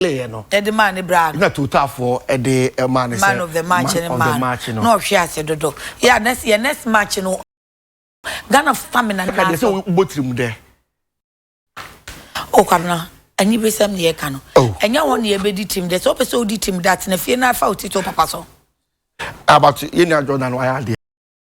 ɔyɛeɛ no. De maa ne braa no. Na Totafoɔ de maa no sɛ man of the match no maa no. Na ɔhwe ase dodo. Yeah, na yɛ next match no Ghanafoɔ stamina no na asɔ. Ɛka deɛ sɛ wobɔ tirim dɛ. Oh Kwabena, anibesɛm na yɛka no. Oh. Ɛnyɛ hɔ na yɛbɛdi tirim dɛ. Sɛ wopɛ sɛ wodi tirim dɛ atena fie na fa wo titɔ papa so. Abato, yɛn nua Jordan wayɛ adeɛ.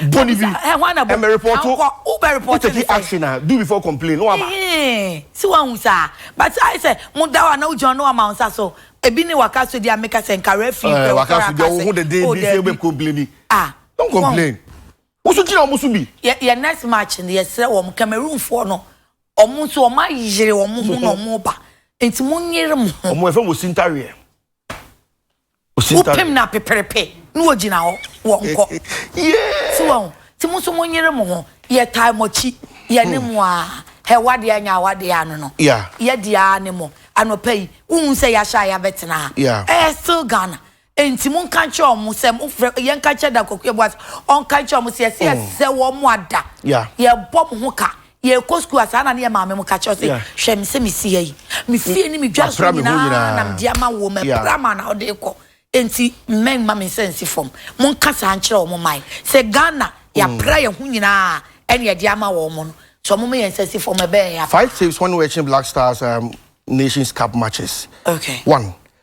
Bɔ ne bi. Ɛ hwan na bɔ? Ɛmɛ report. Ankɔ wo bɛ report ne sɛ. Take action a do before complain no aba. Ɛhɛn si wa hun saa but ayɛ sɛ mo da wa na ogyina no ama nsa so ebi ne waka so di ameka sɛ nka referee pɛ waka so di ɔho de den bi sɛ bɛ complain ah don't complain wosu gyina wɔn so bi. Yɛ yɛ next match no yɛ srɛ wɔn Cameroon foɔ no wɔn nso wɔn ayere wɔn ho na wɔn ba nti mo nyere mo ho. Wɔn ɛfɛ mo si ntareɛ. wopem no apeperepe na wɔgyina hɔ wɔnkɔ so wɔn nti mo nso monyere mo ho yɛtae mo akyi yɛne mo a hɛ wadeɛ anyɛ a wadeɛ ano no yɛde a ne mo anɔpa yi wohu sɛ yɛahyɛ a yɛabɛtena ha ɛyɛ still Ghana nti mo nka nkyerɛ ɔmo sɛ mofrɛ yɛnka nkyerɛ da kɔkɔ yɛboa sɛ ɔnka nkyerɛ ɔmo sɛ yɛsɛ yɛsɛ wɔn mo ada yɛbɔ mo ho ka yɛkɔ sukuu a saa na ne yɛ maame mo ka kyerɛ sɛ hwɛ me sɛ mesi ha yi me fie ne medwa so nyinaa na mede ama wo mɛpra ma na wode kɔ enti mmɛn ma me nsa nsi fam monka saa nkyerɛ wɔ mo man sɛ ghana yɛapra yɛ ho nyinaa ɛne ɛde ama wɔ mo no so ɔmo ma yɛn nsa si fam ɛbɛyɛ yɛ five tips wɔn wɔakyi black stars um, nations cup matches okay one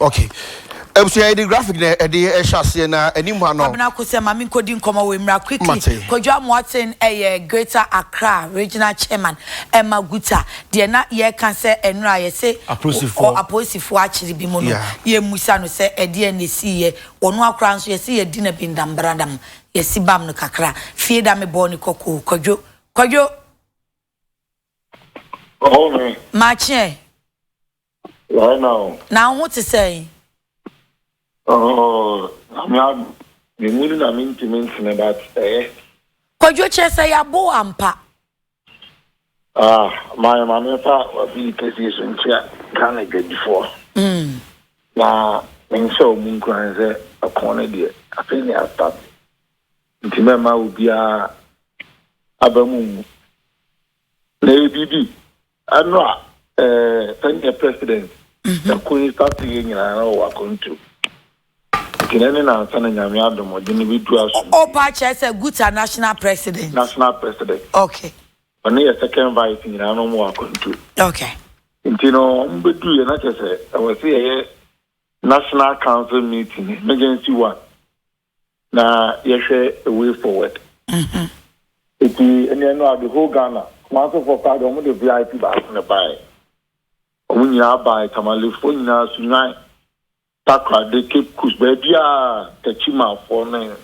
Ok abusua yɛde graphic na ɛde ɛhyɛ aseɛ na anim ha no. Kwabena Kosɛ ma me nkɔdi nkɔmɔ wei mmra quickly. Mate. Kwadwo Amoaten yɛ Greater Accra Regional Chairman ma Guta deɛ na yɛka sɛ ɛnora a yɛse Apolisifoɔ. ɔ apolisifoɔ akyere bi mu no Yeah. yɛmmusa no sɛ ɛdeɛn na ɛsiiɛ wɔno ara koraa nso yɛse yɛadi no abindam bradam yɛsi bam no kakra fie da me bɔɔ ne kɔkɔ o Kwadwo Kwadwo Ɔhɔho. makye ɛ. Right now. Na wo ho te sɛn? Oh, nyame adom. Me mu no na mentumi ntene but ɛyɛ. Kwadwo kyerɛ sɛ yɛabo wo ampa. Ah, ma yɛ ma memfa w'afii kɛseɛ so nkyia Ghana adwadifoɔ. Mm. Na menhyɛ wo mu nkuran sɛ ɛko no deɛ afei ne astate. Nti mɛma obiara aba mu ngu. Na ɛyɛ biribi. Ɛno a, eh, sɛdeɛ president ɛko yi sa so yɛ nyinaa na ɔwɔ akwantu. Nti na ne nansa na Nyame adom ɔde no bɛdu asom. O, paa kyerɛ sɛ Guta national president. National president. Okay. Ɔne yɛ second vice nyinaa na ɔmo wɔ akwantu. Okay. Nti no ɔmo bɛduu yɛ na kyerɛ sɛ ɛwɔ sɛ yɛyɛ national council meeting, emergency one. na yɛhwɛ a way forward. Eti ɛnneɛ no a the whole Ghana Kumasefoɔ paa deɛ wɔn de VIP baako na ɛbaeɛ. Wɔn nyinaa baeɛ Tamalefoɔ nyinaa Sunyani, Takoradi, Cape Coast baabiara Takyimafoɔ ne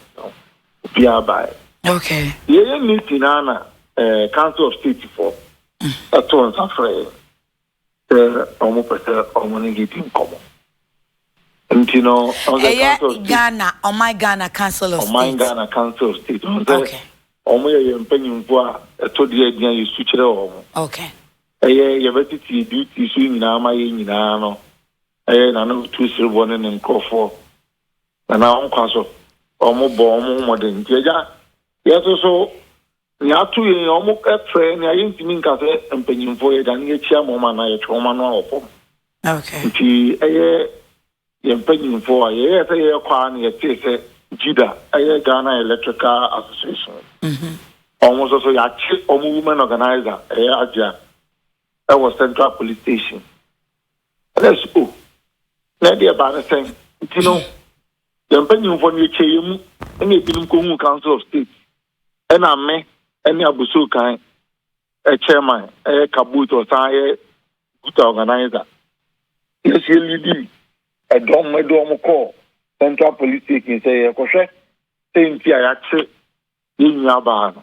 obiara baeɛ. Okay. Yɛyɛ meeting naa na eh, Council of Statefoɔ ɛtoo nsa frɛ yɛn. Sɛ wɔpɛ sɛ wɔn ne de di nkɔmɔ. Nti no, wɔn sɛ Ɛyɛ Council of State. Ghana, Ɔman Ghana Council of Ɔman State. Ghana Council of State. Wɔn sɛ Okay. wɔn yɛ yɛn mpanyinfoɔ a ɛtɔ di a yɛde nya yɛn su kyerɛ wɔn. Okay. Ɛyɛ yɛbɛtete yɛn duties so nyinaa ama yɛn nyinaa no. Ɛyɛ Nana Otu Sereboɔ ne ne nkorɔfoɔ. Nana wɔn nkwa so. Wɔn bɔ wɔn ho mmɔden. Nti Agya, yɛn nso so Nea ato yɛn yi, wɔfrɛ nea yentumi nka sɛ mpanyimfo, yɛda ne yɛakyi ama wɔn anaa yɛtwe wɔn ano wɔ fam. Enti ɛyɛ yɛn mpanyimfo a yɛyɛɛ sɛ yɛrekɔ ara na yɛtee sɛ GIDA, ɛyɛ Ghana Electrical Association, wɔn nso so yɛakye wɔn woman organiser, ɛyɛ Agya, wɔ Central Police Station. Ɛnna yɛse, Oh, na ɛde ɛbaa no sɛn? Nti no, yɛn mpanyimfo no, yɛkyɛɛ yɛn mu, ɛnna ebinom kohuu Council of State. Ɛna me ne abusuokan chairman ɛyɛ kabut ɔsan yɛ guta organizer. Yɛsi elidi ɛdɔm ɛde wɔn kɔ central police station sɛ yɛkɔhwɛ sɛ nti a yɛakye yɛn nua baa no.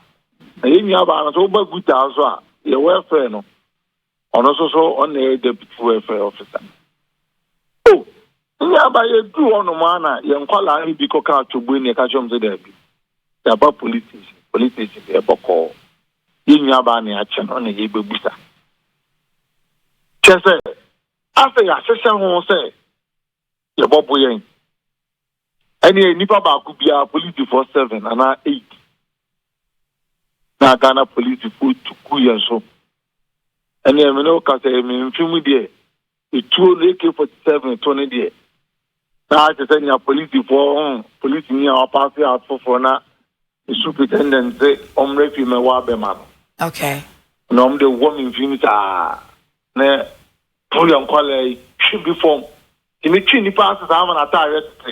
Na yɛn nua baa no sɛ woba guta so a yɛwɔ ɛfrɛ no Ɔno nso so ɔna yɛ Deputy Welfare Officer. Oh! Nnuaba yɛduru hɔ nom ara na yɛn nkwadaa no bi kɔkaa Twoboi na yɛka kyerɛɛ wɔn sɛ daabi, yɛaba Police Station, Police Station deɛ bɔkɔɔ. Yɛn nuabaa na yɛakyɛ no na yɛrebɛbusa. Kyerɛ sɛ, afei yɛahyehyɛ ho sɛ Yɛbɔbo yɛn. Ɛneɛ nnipa baako biara polisifoɔ seven anaa eight na Ghana polisifoɔ tu gu yɛn so. Ɛneɛ me ne wo ka sɛ me mfe mu deɛ etuo no AK forty seven to no deɛ na ahyɛ sɛ nea polisifoɔ ho polisini a wapaase a foforɔ na ne superintendent se ɔmmra fie mɛwɔ abɛma no. Okay. Na wɔn de wɔ me mfe mu saa. Ne ho yɛ nkwadaa yi hwe bi fam tumi twe nnipa ase saa ma n'ataareɛ tete.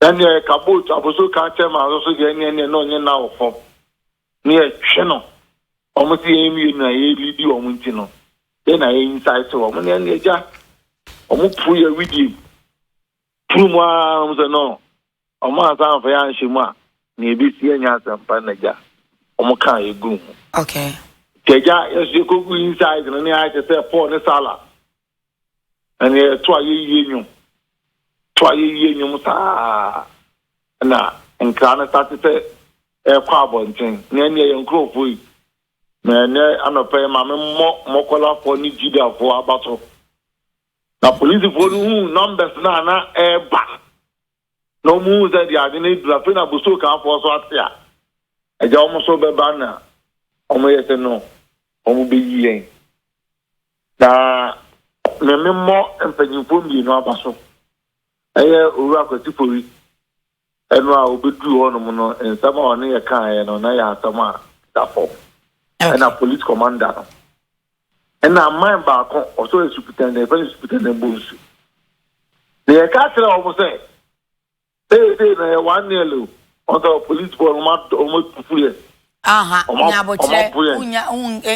Ɛnneɛ ka boot aboso ka kyɛ ma nso so deɛ ɛnneɛ ɛnneɛ na ɔnyɛ nna wɔ fam ne yɛtwe no. Wɔn sɛ yɛn mmienu a yɛlidi wɔn nti no yɛn na yɛn nsaete wɔn ne ɛnneɛ gya wɔn puru yɛ widie mu. Turu mu ara na wɔn sɛ no, wɔn ansa amfa yɛ anhyɛ mu a, nea ebesi ɛnyɛ asɛmpa na agya. Wɔn kaa yɛ guu ho. Okay. Nti agya, yɛn nso yɛkɔgu inside no ne ayɛ te sɛ Paul ne Sala. Na nea yɛto a yɛwie nnwom. To a yɛwie nnwom saa na nkra no sate sɛ ɛrekɔ abɔnten. Na ɛnneɛ yɛn nkurɔfoɔ yi, na ɛnɛ anɔpa yi ma memmɔ mmɔkɔlafoɔ ne Judafoɔ aba so. Na polisifoɔ no huu numbers no a na ɛreba no, na wɔn huu sɛ deɛ ade no aduru, afei na Bosuo Kanfoɔ nso ate a, agya wɔn nso bɛba na wɔn yɛ sɛ no, wɔn bɛyi yɛn. Na me me mmɔ mpanyinfoɔ mmienu aba so, ɛyɛ Owura Kwasi Fori Ɛno a obeduu hɔnom no, nsɛm a ɔne yɛ kaeɛ no, na ɛyɛ asɛm a ɛda fam. Ɛna police commander no, ɛna aman baako, ɔsɔ asupita, na yɛfrɛ no asupita na ɛmmɔ nsu. Na yɛka kyerɛ wɔn sɛ, ee, dee, na yɛ one nil o, wɔn sɛ police boɔ no, wɔn atufu yɛ. Aha, nya abokyerɛ, wonya,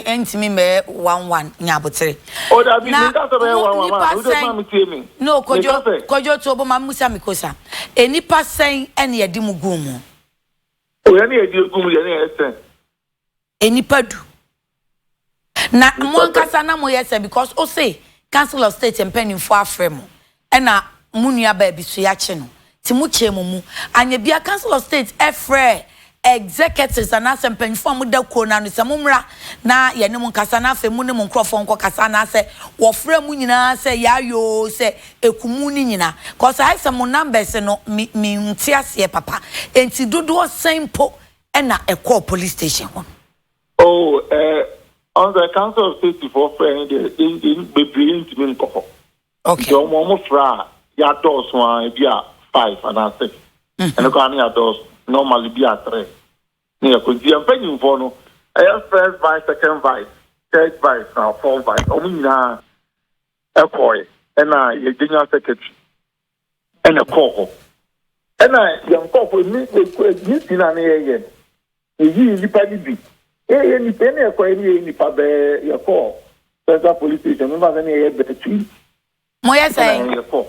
ɛntumi mɛyɛ one one, nya abokyerɛ. O dabi, mi nka sɛ bɛyɛ one one ma, o de ma mi tie mi. No, kojo, kojo to bo ma musa mi kosa. Enipa sɛn ɛne yɛde mu gu mu? O yɛne yɛde gu mu yɛne yɛ sɛn? Enipa du, Na mo ankasa na mo yɛ sɛ because ose council of state mpaninfoɔ afrɛ mo ɛna mo nua baa bi so yakye no ti mo kyɛɛ mo mu anyɛ bia council of state ɛfrɛɛ executives anaasɛ mpaninfoɔ a mo da kuo no ano sɛ mo mmra na yɛ ne mo nkasa na afei mo ne mo nkorɔfoɔ nkɔ kasa anaasɛ wɔ frɛɛ mo nyinaa sɛ yaayoo sɛ ɛku mo ne nyina cause ayɛ sɛ mo numbers no me me nte aseɛ papa ɛnti dodoɔ sɛn mpo ɛna ɛkɔɔ police station hɔ. Oh, eh, ɔn sɛ Council of State foɔ frɛ yɛn deɛ, yɛn yɛn bebree yɛn ntumi nkɔ hɔ. Okay. Nti ɔmo ɔmo frɛ a, yɛadɔɔso a, ebi a five anaa six. Mhm. Ɛno koraa no yɛadɔɔso. Normally bi a three. Ne yɛkɔ. Nti yɛn mpanyinfoɔ no, ɛyɛ first vice, second vice, third vice na fourth vice. Ɔmo nyinaa ɛkɔɔɛ. Ɛna yɛn general secretary. ɛna ɛkɔɔ hɔ. Ɛna yɛn nkurɔfo, emi, yɛn ti na ne yɛyɛ no, yɛyii nnipa no bi. Yɛyɛ nnipa, yɛne yɛkɔɛ ne yɛyɛ nnipa bɛɛ, yɛkɔɔ Central Police Station, mefa sɛ ne yɛyɛ bɛɛ tui. Moyɛ sɛn? Ɛna yɛkɔ.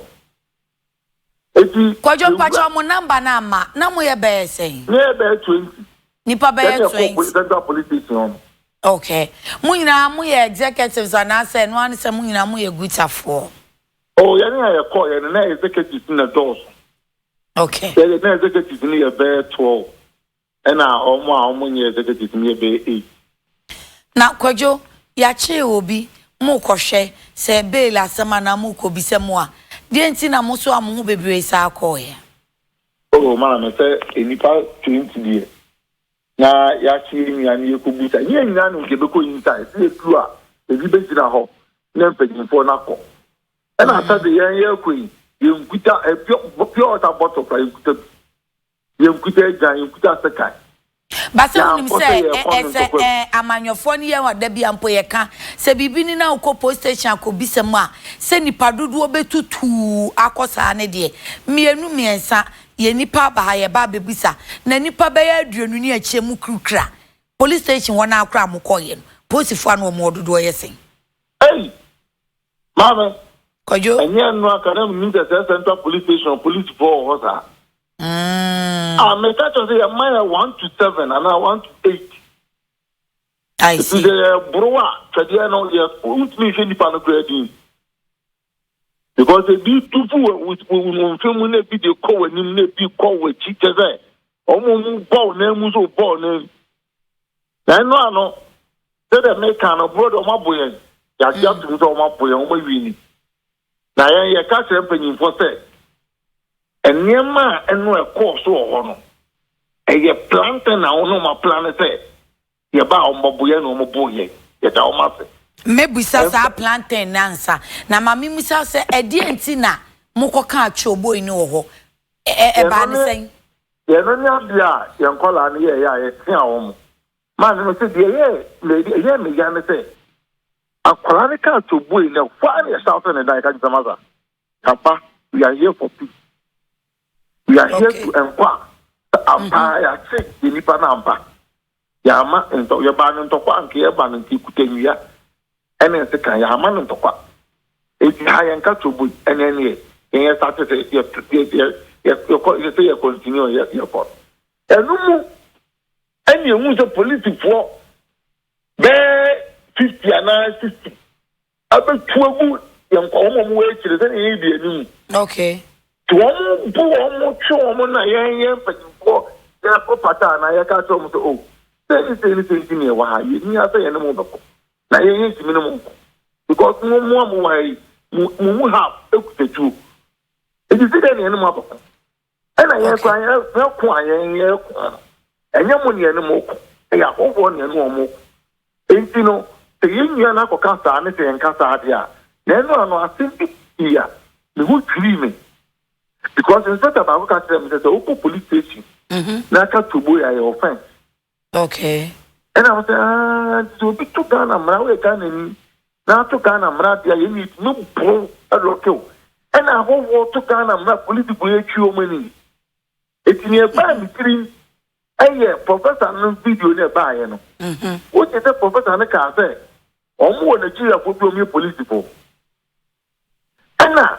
Eti. Kwadwo mpakyɛ ɔmo namba no ama, na moyɛ bɛɛ sɛn? Ne yɛyɛ bɛɛ twenty. Nnipa bɛɛ twenty. Yɛne yɛkɔ Central Police Station hɔ no. Okay. Mo nyinaa moyɛ executives anaasɛ ɛno ara ne sɛ mo nyinaa moyɛ gutafoɔ? Oh yɛne a yɛkɔɔ yɛ no na executives na dɔɔso. Okay. Yɛde na executives no yɛ bɛyɛ twelve ɛna wɔn a wɔn nyɛ executives no yɛ bɛyɛ eight. Na kwadwo yɛakyere obi mo kɔhwɛ sɛ bail asɛm anaa mo kɔ bisa mu a deɛ nti na mo so a mo ho bebree saa kɔɔeɛ. Oh maame sɛ nnipa twenty deɛ. Na yɛakye yɛn nua no yɛkɔgu sa. Yɛn nyinaa nim sɛ yɛbɛkɔ inside. Sɛ yɛduru a, ebi bɛgyina hɔ ne mpanimfoɔ no akɔ. Ɛna asɛ de yɛn yɛrekɔ yi, yɛnkuta pure pure water bottle koraa yɛnkuta bi. Yɛnkuta agyan, yɛnkuta sekan. Ba sɛ wonim sɛ ɛ sɛ ɛ amanyɔfoɔ no yɛ hɔ a, da bia mpo yɛka. Sɛ biribi ni na wokɔ police station akɔbisa mu a, sɛ nnipa dodoɔ bɛtutuu akɔ saa no deɛ, mmienu mmiɛnsa Yɛ nnipa aba ha yɛba abɛbisa na nnipa bɛyɛ aduonu ne akyire mo kirikira police station hɔ naa koraa mo kɔɔyɛ no polisifoɔ a na wɔn wɔ dodoɔ yɛ sɛn. Ei! Maame! Kwadwo! Ɛnyɛ ɛno anka na menim sɛ sɛ central police station polisifoɔ wɔ hɔ saa. Mm. Ah, meka kyerɛ sɛ yɛma yɛ one to seven anaa one to eight. I Ɛfiri see. sɛ yɛboro a twɛdeɛ no yɛ wontumi nhwɛ nnipa no koraa din. Because ebi tu fu wɔ wo mfe mu na ebi de kɔ w'anim na ebi kɔ w'akyi kyɛ sɛ wɔn a wɔbɔ wo nan mu nso bɔ wo nan mu. Na ɛno ano sɛdeɛ meka no borɔ de wɔabo yɛn yɛagye atom sɛ wɔabo yɛn wɔawi ni. Na yɛn yɛka kyerɛ mpanyimfoɔ sɛ nneɛma a ɛno ɛkɔɔ so wɔ hɔ no ɛyɛ planting na wɔn a wɔaplan sɛ Yɛbaa wɔn bɔboyɛ na wɔn boo yɛn. Yɛda wɔn ase. Mɛbisa saa plantain no ansa. Na ma memmisa sɛ, ɛdeɛn nti na mokɔkaa choboi no wɔ hɔ? Ɛ, ɛ, ɛbaa no sɛn? Deɛ ɛno ne adeɛ a yɛn nkwadaa no yɛeɛ a yɛteaa wɔn. Maame no se, deɛ ɛyɛɛ me, ɛyɛɛ me ya ne sɛ, akwadaa no kaa choboi no, ɛhɔ ara na yɛhyɛ aseɛ ne da, yɛka kyerɛ sɛ, Masa, Papa, we are here for peace. We are here to enquire. Sɛ ampa ara yɛate yɛn nipa no ampa. Yɛama ntɔ yɛbaa no ntɔkwa anka yɛba no nti ekuta nnua ɛne nsekan yɛama no ntɔkwa. Eti ha yɛn ka tobo yi ɛne ɛneɛ yɛn yɛ start sɛ yɛ yɛ yɛ yɛ yɛkɔ yɛ sɛ yɛ continue yɛ yɛkɔ. Ɛno mu ɛne ehu sɛ polisifoɔ bɛɛ fifty anaa sixty abɛtu agu yɛn kɔn wɔn wɔ akyire sɛdeɛ yɛn di anim. Okay. Nti wɔn bu wɔn twe wɔn na yɛn yɛn mpanyinfoɔ yɛkɔ pata anaa yɛka kyerɛ wɔn sɛ o sɛ ne sɛ ne sɛ nti na yɛwɔ ha yɛn ni asɛ yɛn ne mo bɛkɔ na yɛn yɛn ntumi ne mo nkɔ because mo mo a mo wɔ ha yi mo mo mu ha ekuta tuo eti si dɛ na yɛn ne mo abɛkɔ. Ɛna yɛn kora yɛko a yɛn yɛko no ɛnyɛ mo nea ne mo ko ɛyɛ ahɔhoɔ nea ne wɔn ko enti no sɛ yɛn nua no akɔka saa ne sɛ yɛnka saa adeɛ a na ɛno ano asɛm bi pii a ne ho dwirii me because inspector baako ka kyerɛ me sɛ sɛ wokɔ police station mm-hmm. na aka tobo yɛ ayɛ offense Okay. Ɛna mo sɛ aa sɛ obi to Ghana mmara woyɛ Ghana ni na ato Ghana mmara deɛ yɛ ne no boro ɛlɔke o ɛna ahɔhoɔ to Ghana mmara polisifoɔ yɛ twi wɔn ani eti ne ɛbaa ne tirim ɛyɛ professor no video ne ɛbaayɛ no wogye sɛ professor no kaa sɛ wɔn wɔ Nigeriafoɔ bi wɔn yɛ polisifoɔ Ɛna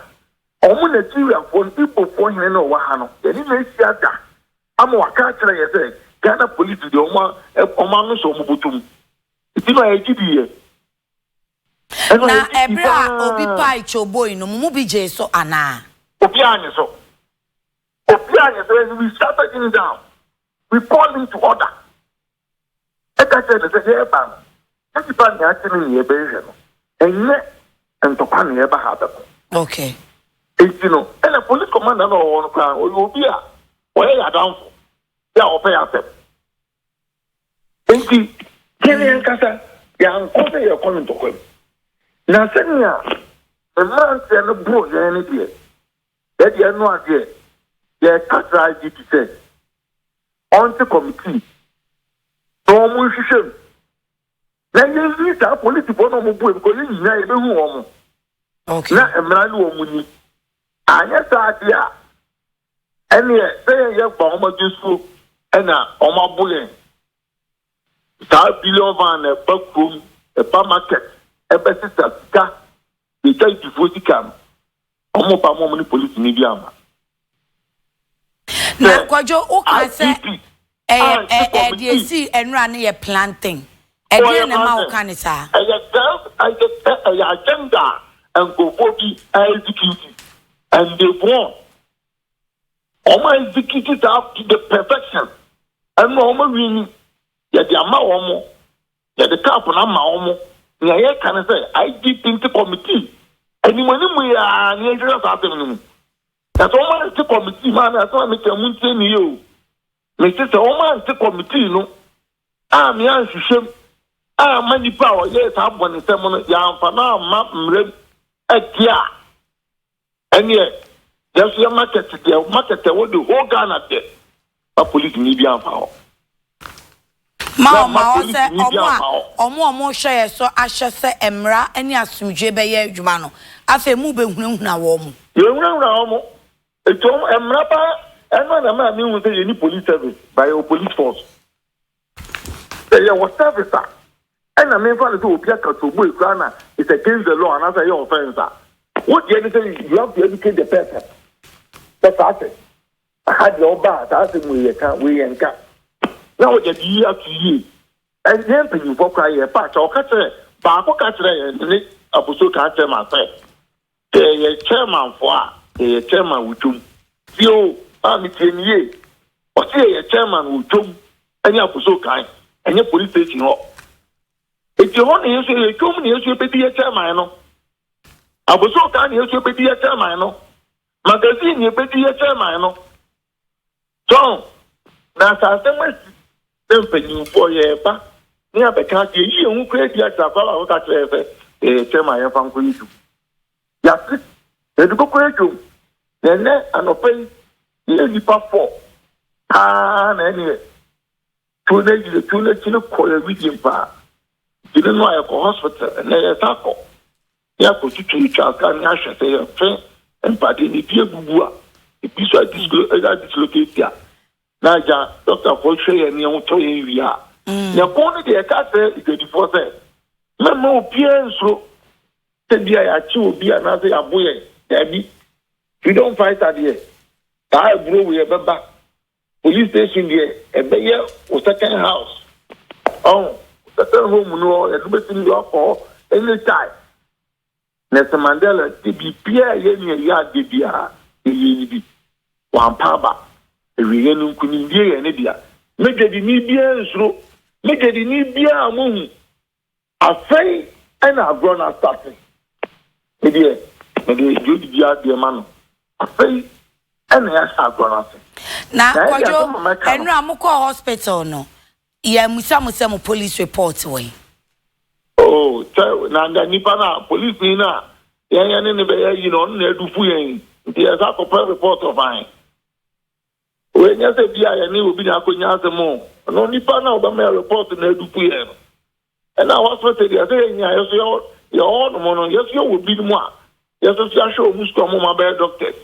ɔmo Nigeriafoɔ no Igbofoɔ hene no a ɔwɔ ha no yɛne no ahyia da ama waka akyerɛ yɛn sɛ Ghana police deɛ ɔmo ɔmo ano sɔ ɔmo botom nti no ayɛ gyidi yɛ. Na ɛberɛ a obi pae kyoboi no, mo mu bi gyee so anaa? Obiara annye so. Obiara annye so and we shouted him down. We called him to order. ka kyerɛɛ no sɛ, Yɛreba no, yɛn nnipa nea ate no nyinaa bɛhwehwɛ no, ɛnyɛ ntɔkwa na yɛreba ha abɛko. Enti no, ɛnna polis kɔmanda no a ɔwɔ hɔ no koraa no, ɔyɛ obi a ɔyɛ yɛn adamfo bi a ɔpɛ yɛn asɛm. Enti yɛn ankasa yɛankɔ sɛ yɛrekɔ no ntɔkwa mu. Na sɛnea mmeranteɛ no boroo yɛn no deɛ, Sɛ deɛ ɛno adeɛ, yɛreka kyerɛ IGP sɛ ɔnte kɔmitii na wɔn nhwehwɛ mu na yɛnyi saa polisifoɔ na wɔn buam kɔ, yɛn nyinaa yɛbɛhu wɔn okay. na mmara ne wɔn nyi. Anyɛ saa adeɛ a, ɛneɛ sɛ yɛn yɛ ba wɔn adwe so ɛna wɔn abo yɛn. Saa billion van na ɛba kurom, ɛba market, ɛbɛsesa sika, yɛtwa ntifoɔ sika no. Wɔn ba mom ne polisi ni bi ama. Na kwadwo wo ka sɛ ɛyɛ ɛɛ deɛ esi ɛnura no yɛ planting ɛdeɛ na ma wo ka ne saa. Ɛyɛ self ɛyɛ ɛyɛ agenda nkurɔfoɔ bi execute and they won. Wɔn execute saa to the perfection ɛnura wɔn win yɛde ama wɔn. Yɛde cup no ama wɔn. Nea yɛka ne sɛ IGP nte kɔmitii anim anim mu yi ara na yɛnhwehwɛ saa asɛm no mu. Na sɛ wɔante kɔmitii mu a na asɛm a meka yi montie no yie o. Mese sɛ wɔante kɔmitii no ammea anhwehwɛ mu amma nipa a ɔyɛɛ saa bɔnesɛm no yɛamfa no amma mmara mu de a, Ɛneɛ yɛnso yɛ market deɛ market ɛwɔ the whole Ghana deɛ ma police ni bi anfa hɔ. Ma ɔma hɔ sɛ ɔmo a ɔmo ɔmo hwɛ yɛ so ahyɛ sɛ ɛmra ɛne asomdwie bɛ yɛ adwuma no afei mo bɛ hunahuna wɔmo. Yɛ hunahuna ɔmo eti ɔmo ɛmra paa ɛno na ɛma me hu sɛ yɛni police service but yɛwɔ police force. Sɛ yɛwɔ service a ɛna menfa no sɛ obi aka to oboe koraa na it's against the law anaasɛ ɛyɛ offence a, wo deɛ ne sɛ you have to educate the person sɛ saa sɛ aha deɛ woba a saa asɛm wei yɛka, wei yɛnka na wode ade yi ato yie. Ɛn yɛn mpanyimfoɔ koraa yɛɛpa akyɛ, ɔka kyerɛɛ baako ka kyerɛɛ yɛn sɛ ne abusuro ka kyerɛɛ ma sɛ, Sɛ yɛ chairman foɔ a yɛ yɛ chairman wɔ dwom. Tie o maame tie me yie ɔse yɛ yɛ chairman wɔ dwom ɛne akoso kan ɛnyɛ police station hɔ eti ɛhɔ na yɛnso yɛ yɛ dwom na yɛnso yɛbɛdi yɛ chairman no aboso kan na yɛnso yɛbɛdi yɛ chairman no magazine na yɛbɛdi yɛ chairman no John, Na sɛ asɛm asi sɛ mpanyimfoɔ yɛreba ne abɛka ade ayi yɛn ho kura adi akyerɛ akoa baako ka kyerɛ yɛn sɛ, Ee, kyɛ ma yɛmfa nkɔyɛ adwuma. Yɛate, na yɛde bɛkɔ adwam. Na ɛnnɛ anɔpa yi, yɛyɛ nnipa fɔ paa na ɛneɛ tuo no ayi yɛn. Tuo no akyini kɔ yɛn widie mpo a, gyene no a yɛkɔ hospital, ɛnnɛ yɛresan akɔ. na yɛakɔtwitwatwa ka ne ahwɛ sɛ yɛmfe mpadeɛ no ebi abubu a ebi so ayɛ dislocate a na agya dɔktafoɔ hwɛ yɛn ne yɛn ho tɔ yɛn wie a mm. yɛn kɔn no deɛ ɛka sɛ adwadifoɔ sɛ mɛma obiara nsuro sɛ bi a yɛakye obi anaasɛ yɛabo yɛn daabi freedom fighter deɛ saa aburo wei ɛbɛba Police station deɛ ɛbɛyɛ wo second house. Ɔho, second home no hɔ, yɛde bɛtumi de wakɔ hɔ anytime. Nelson Mandela sɛ biribiara ɛyɛ ne ɛyɛ adeɛ biara yɛyɛ ne bi. Wampa aba. Awieɛ no nkunimdie yɛ ne dea. Me dwadini biara nsuro. Me dwadini biara a mohu Afei na agorɔ no astate. Me deɛ, mede Jodie gye adeɛ ma no. Afei na yɛahyɛ agorɔ no ase. Na Kwadwo, ɛnora a mokɔɔ hospital no, yɛammisa mo sɛ mo police report wɔ he? Oh, sɛ na anka nnipa no a, polisini no a yɛn yɛne no bɛyɛ ayi no, ɔno na adufu yɛn, nti yɛsan kɔpɛ report of ahe? Ɛnyɛ sɛ bi a yɛne obi na akɔnya asɛm o, ɛno nnipa no a ɔbɛma yɛ report na adu pu yɛn no. Ɛna hospital deɛ sɛ yɛnyia yɛ so yɛwɔ yɛwɔ hɔnom no yɛ so yɛwɔ binom a yɛ so so ahwɛ wɔn sukuu a wɔn ma bɛyɛ doctors.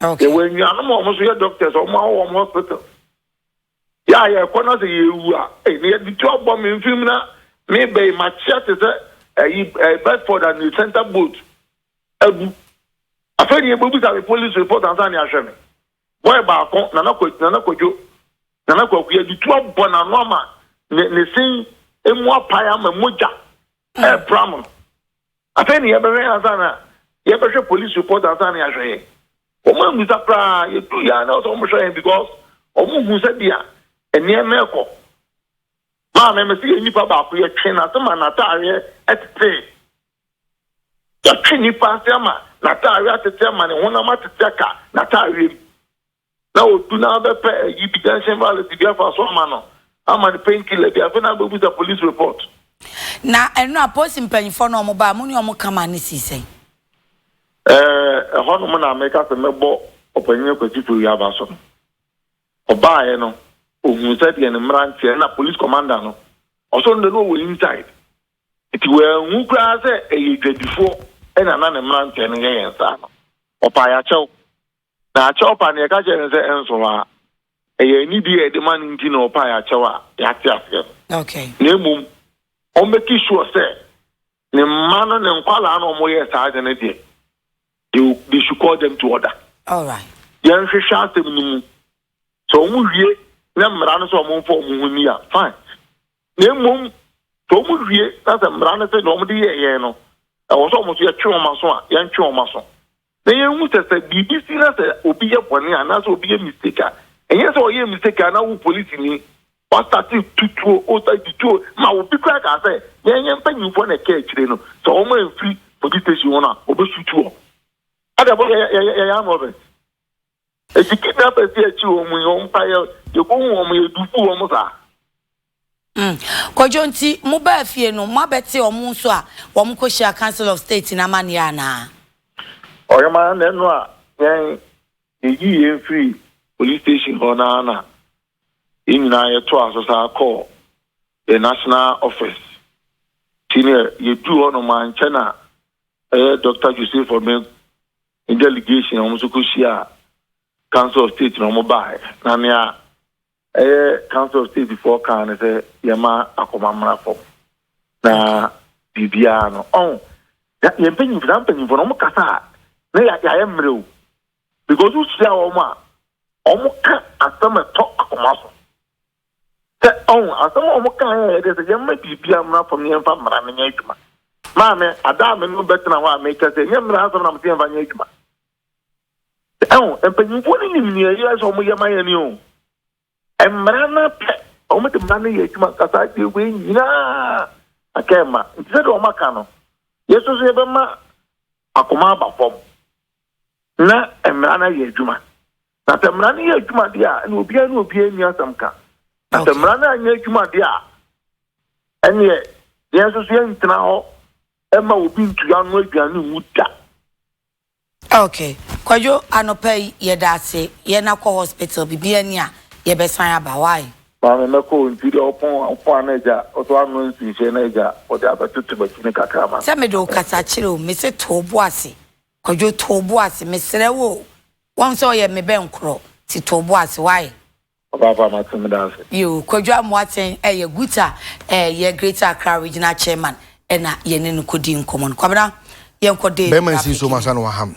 Yɛwɔ anuanom a wɔn so yɛ doctors a wɔn awɔ wɔn hospital. Yɛ a yɛkɔ na sɛ yɛwu a ɛyi na yɛde tu abɔ me mfiri mu na me bɛ yi makyea te sɛ ɛyi ɛyi Bedford and the center boat abu. Afei deɛ yɛbɛbisa me police report ansa na yɛahwɛ me. Boy baako, Nana Kwadwo, Nana Kwadwo, Nana Kwaku, yɛde tu abɔ n'ano ama ne ne sen mu apae ama mogya ɛrepra no. Afei ne yɛbɛhwɛ yɛ ansa na yɛbɛhwɛ police report ansa na yɛahwɛ yɛ. Wɔn ammisa koraa, yɛduu yɛ a na wɔsɛ wɔn hwɛ yɛn because wɔn hu sɛ bia nneɛma ɛkɔ. Maame, mese yɛn nipa baako yɛtwe n'ase ma n'ataareɛ ɛtetee. Yɛatwe nnipa ase ama n'atadeɛ atete ama ne honam atete aka n'atadeɛ mu. Na ɔdu na abɛpɛ ayi bi junction violence bi afa so ama no ama no pain killer bi afei na abɛbusa police report. Na ɛno a polisi mpanyinfoɔ no wɔn baa mo ne wɔn kama ne sii sɛn? Ɛɛ ɛhɔ nom na meka sɛ mɛbɔ ɔpanyin Kwasi Fewia aba so no. Ɔbaaeɛ no ohun sɛdeɛ ne mmeranteɛ na police commander no ɔsɔ no de no ɔwɔ inside Enti wanhu koraa sɛ ɛyɛ dwadifoɔ na na ne mmeranteɛ no yɛ yɛn saa no. Ɔpae akyɛw. Na akyɛw pa no, yɛka kyerɛɛ no sɛ ɛnso hɔ ara. Ɛyɛ anidie a yɛde ma no nti na ɔpae akyɛw a yɛate aseɛ no. Na mmom, ɔmmɛki sure sɛ ne mma no, ne nkwadaa no a wɔyɛ saa ade no deɛ, they, they should call them to order. Yɛnhwehwɛ asɛm no mu. Sɛ wɔwie na mmara no sɛ wɔmfa wɔn ho nni a, fine. Na mmom sɛ wɔn wie na sɛ mmara no sɛ na wɔn de yɛ yɛn no ɛwɔ sɛ wɔn so yɛtwe wɔn aso a yɛntwe wɔn aso na yɛn hu sɛ sɛ biribi si na sɛ obi yɛ bɔne a na sɛ obi yɛ mistake a ɛnyɛ sɛ ɔyɛ mistake a na wo polisi ni wasate tutuo ota tutuo ma obi kura ka sɛ yɛn yɛn mpanyinfoɔ na ɛka akyire no sɛ wɔn a mfiri police station wɔn a wɔbɛsutu wɔn ɛdɛ bɔ yɛ yɛ yɛ yɛ yɛ amrɔbɛ. Esi kete abɛsi akyi wɔn yi wɔn mpa yɛ yɛbɔhu wɔn yɛ dufu wɔn saa. Mm. Kwadwo nti mo baa fie no mo abɛte wɔn nso a wɔn kɔ hyia council of state na amaneɛ anaa. Ɔyɛma na ɛno a yɛn yɛyi yɛn firi police station hɔ na na yɛn nyinaa yɛto aso saa kɔ the national office ti ne yɛduru hɔ no mankyɛ na ɛyɛ Dr. Joseph Obeng ne delegation a wɔn nso kɔ hyia council of state na wɔn baaɛ na nea ɛyɛ council of state foɔ kaa ne sɛ yɛma akɔma mmra fam na biribiara no ɔn oh, yɛn mpanyinfo na mpanyinfo na wɔn kasa a na yɛayɛ mmerɛ o because wohyia wɔn a wɔn ka asɛm ɛtɔ akoma so Sɛ ɔho asɛm a ɔmo kae a ɛde sɛ yɛmma biribiara mmra fam na yɛmfa mmara no nyɛ adwuma. Maame, ada a me ne wo bɛtena hɔ a meka sɛ ɛnyɛ mmara asɛm na mese yɛmfa nyɛ adwuma. Sɛ ɔho, mpanyimfoɔ no nim nea ɛyɛ sɛ ɔmo yɛ ma yɛn o. Mmara no apɛ, ɔmo de mmara no yɛ adwuma nka saa deɛ wei nyinaa aka ɛmma. Nti sɛdeɛ ɔmo aka no, yɛn nso so yɛbɛma akoma aba fam na mmara no ayɛ adwuma. Na sɛ mmara no yɛ adwuma deɛ a, ɛnna obiara ne obiara nni asɛm ka. Na sɛ mmara no anyɛ adwuma deɛ a, ɛnneɛ yɛn nso so yɛntena hɔ mma obi ntu ano aduane nwu da. Ok, Kwadwo, anɔpa yi yɛda ase, yɛn akɔ hospital, biribi ani a, yɛbɛsan aba, why? Maame, mɛkɔ o, nti deɛ ɔpon ɔpon ano agya, ɔso ano nsi nhwɛ na agya, ɔde abɛtoto m'akyi no kakra ma me. Sɛ mede wo kasa kyerɛ o, mese to wo bo ase, Kwadwo, to wo bo ase, mesrɛ wo o, wahu sɛ ɔyɛ me bɛnkorɔ, nti to wo bo ase, wai? Ɔbaafa, mate, meda ase. Yoo, Kwadwo Amoateng yɛ Guta yɛ Greater Accra Regional Chairman na yɛne no kɔdii nkɔmmɔ no. Kwabena, yɛnkɔ Dave Bɛrima nsi nsuo mu ansa na waham.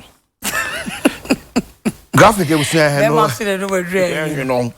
Graphic ebusua hɛn no yɛnwe no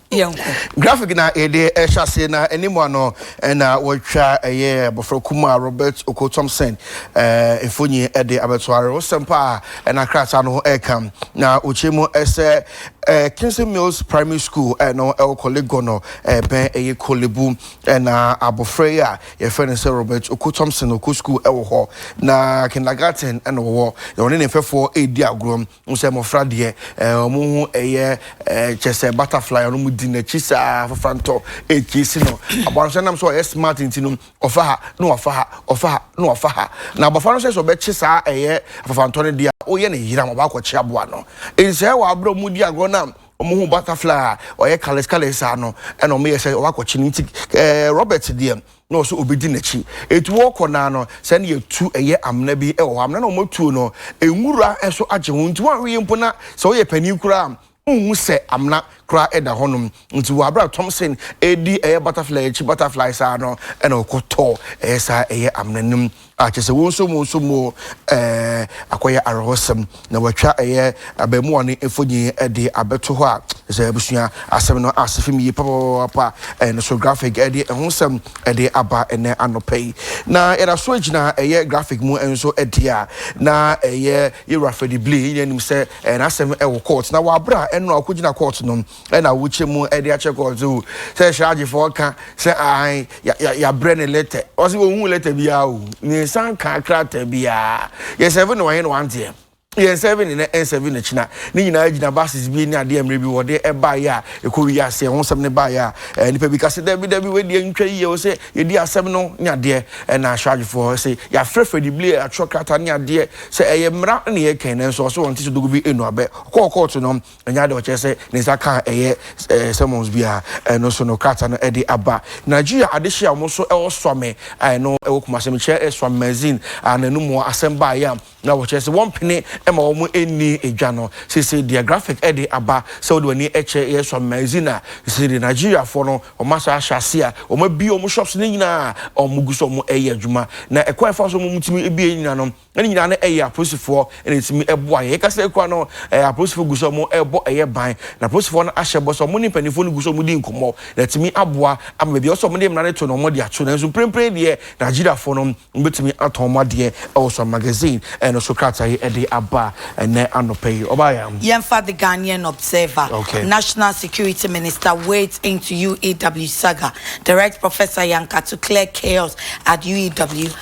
graphic na yɛde ɛhyɛ ase na anim a no na wɔatwa ɛyɛ abɔfra kumaa Robert Oko Thompson ɛɛ mfonyi ɛde abɛto are wosɛm pa a ɛna krataa no ho ɛka na wɔkyerɛ mu ɛsɛ ɛɛ Kingston Mills Primary School ɛno ɛwɔ Korle Gon no ɛbɛn ɛyɛ Korle Bu ɛna abɔfra yi a yɛfrɛ no sɛ Robert Oko Thompson ɔkɔ school ɛwɔ hɔ na kindergarten ɛna ɔwɔ na ɔne ne mfɛfoɔ ɛredi agorɔ Wohu sɛ mmɔfra deɛ ɛɛ wɔn ho ɛyɛ ɛɛ kyɛ sɛ butterfly a wɔn di n'akyi saa afofra ntɔ ɛɛkyi si no abɔfra no sɛ nam sɛ ɔyɛ smart nti no ɔfa ha na wafa ha ɔfa ha na wafa ha na abɔfra no sɛ sɛ ɔbɛkye saa ɛyɛ afafantɔ no deɛ a ɔyɛ ne yeram ɔbaakɔkye aboa no nsɛɛ wɔ abere wɔn di agorɔ na wɔn ho butterfly a ɔyɛ colours colours saa no ɛna wɔn yɛ sɛ ɔbaakɔkye no nti ɛɛ Robert deɛ na ɔwɔ sɛ ɔbɛdi n'akyi. Ɛti wɔkɔ naa no, sɛ ne yɛtu ɛyɛ amena bi wɔ hɔ, amena na wɔatuo no, nwura nso agye ho, nti wɔanwe yi mpo na sɛ woyɛ panin koraa wonhu sɛ amena koraa ɛda hɔ nom. Nti wɔ aberɛ a Thompson ɛredi ɛyɛ butterfly akyi, butterfly saa no, ɛna ɔkɔtɔ ɛyɛ saa ɛyɛ amena nom. A Kyerɛ sɛ wo nso mo nso mo ɛɛ akɔyɛ awerɛhosɛm na wɔatwa ɛyɛ abɛɛmoa no mfoni de abɛto hɔ a, kyerɛ sɛ abusua asɛm no ase fi mu yie papapapaapa. Ɛɛ no so graphic de ɛho nsɛm de aba ɛnnɛ anɔpa yi. Na yɛda so gyina ɛyɛ graphic mu nso deɛ a, na ɛyɛ Yɛwura Freddie Blay, yɛn nyinaa nim sɛ ɛɛ n'asɛm wɔ court. Na wɔ aberɛ a ɛno a ɔkɔgyina court no, ɛna wokyɛ mu ɛde akyɛ kɔɔ so sɛ hyɛagyefo ɔka sɛ ahan yɛabrɛ ne lɛtɛ ɔsɛ wɔhu lɛtɛ biara o ne nsan ka krataa biara yɛ sɛve ne wɔhe ne wanteɛ yɛn sɛve ne na ɛnsɛve ne kyena ne nyinaa gyina bases bi ne adeɛ mmerɛ bi wɔde ɛbaeɛ a ɛkɔ wi ase ɛho sɛm ne baeɛ a eh, nipa bi ka sɛ dabi dabi wɔadi antwa yie wɔ sɛ yɛdi asɛm no ne adeɛ ɛna hyɛagyefoɔ sɛ yɛafrɛfrɛ de bile atwerɛ krataa ne adeɛ sɛ ɛyɛ mmara ne yɛkɛn nanso ɔsɛ wɔn te so dogo bi ɛnu abɛ ɔkɔɔ kɔɔto no Ɛnyɛ ade a ɔkyerɛ sɛ ne nsa ka a ɛyɛ sermons biara, ɛno so no krataa no de aba. Nigeria adehye a wɔso ɛwɔ Swame a ɛno ɛwɔ Kumasi no kyerɛ Swame Magazine a n'anum hɔ asɛm baeɛ a na wɔkyerɛ sɛ wɔmpene ma wɔn nni edwa no. Seesei deɛ graphic de aba sɛ wode w'ani kyɛ yɛ Swame Magazine a, seesei deɛ Nigeriafoɔ no wɔn asan ahyɛ ase a wɔabue wɔn shops no nyinaa a wɔgu so wɔyɛ adwuma. Na ɛkwan a ɛfa so a wɔtumi bue nyinaa no, na ne nyinaa no ɛyɛ apolisifoɔ na ɛtumi ɛboa yɛn. Yɛkasa yi koraa no ɛɛ apolisifoɔ gu so wɔn ɛrebɔ ɛyɛ ban, na apolisifoɔ no ahyɛ bɔ sɛ wɔn ne mpanimfoɔ no gu so wɔn di nkɔmmɔ na atumi aboa ama baabi a ɛwɔ sɛ wɔn de mmara no to no wɔn de ato. Nanso mprempren deɛ Nigeriafoɔ no wɔbɛtumi atɔn wɔn adeɛ ɛwɔ Sun Magazine ɛno so krataa yi ɛde aba ɛnnɛ anɔpa yi. Ɔbaeɛ. Yɛmfa The Ghanaian Observer, Okay. National Security Minister wades into UEW Saga, Direct Professor Yankatu Clear Chaos at UEW,